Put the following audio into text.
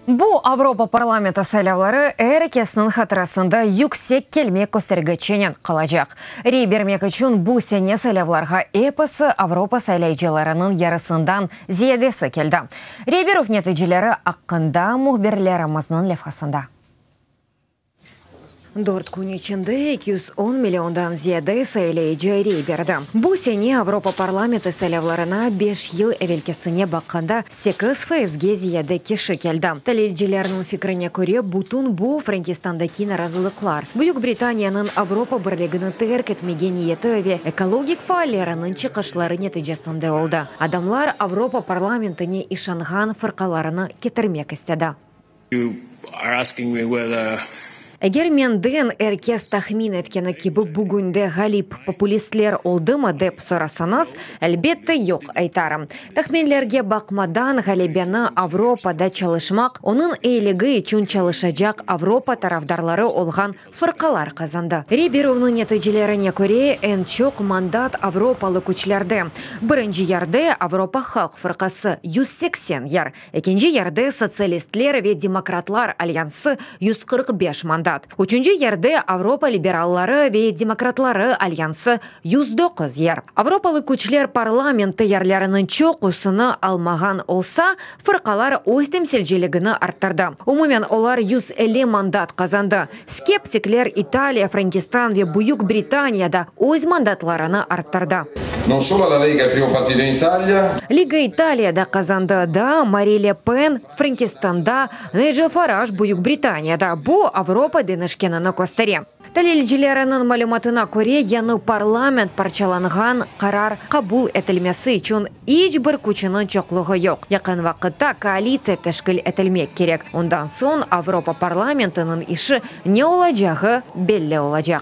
Bu Avropa parlamenti saylavları er ekesiniñ hatırasında yüksek kelme köstergiçinen qalacaq. Rey bermek içün bu sene saylavlarğa episi Avropa saylayıcılarınıñ yarısından ziyadesi keldi. Rey berüv neticeleri aqqında mühbirlerimizniñ levhasında. Dört kün içinde eki yüz on milliondan ziyade sayılayıcı rey berdi. Bu sene Avropa Parlamenti saylavlarına beş yıl evelkisine baqqanda sekiz faizge ziyade kişi keldi. Talilcilerniñ fikrine köre, bütün bu, Frankistandaki narazılıqlar, Büyük Britaniyanıñ Avropa Birligini terk etmege niyeti ve ekologik faalleriniñ çıqışları neticesinde oldı. Adamlar Avropa Parlamentine işanğan fırqalarını ketirmek istedi. Eger menden er kes tahmin etkeni kibi bugünde ğalip populistler oldımı dep sorasañız, elbette yoq aytarım. Tahminlerge baqmadan, ğalebeni Avropada çalışmaq, onıñ iyiligi içün çalışacaq Avropa tarafdarları olğan Fırqalar qazandı. Riberovnıñ neticelerine köre, eñ çoq mandat avropalı küçlerde, birinci yerde, Avropa halq fırqası, yüz seksen yer, ekinci yerde, Sotsialistler ve demokratlar alyansı, yüz qırq beş mandat, üçünci yerde, Avropa liberalları ve demokratları alyansı, yüz doquz yer. Avropalı küçler parlamenti yerleriniñ çoqusını almağan olsa, Fırqalar öz temsilciligini arttırdı, umumen olar yüz elli mandat qazandı. Skeptikler İtaliya, Frankistan ve Büyük Britaniya da öz mandatlarını arttırdı. Liga İtaliya da qazandı, daa Mari Le Pen, Frankistanda, Nigel Faraj, Büyük Britaniyada, bu Avropa deñişkenini köstere. Talilcileriniñ malümatına köre, yañı parlament parçalanğan qarar qabul etilmesi içün iç bir küçüniñ çoqluğı yoq. Yaqın vaqıtta koalitsiya teşkil etilmek kerek, ondan soñ Avropa parlamentiniñ işi ne olacağı belli olacaq.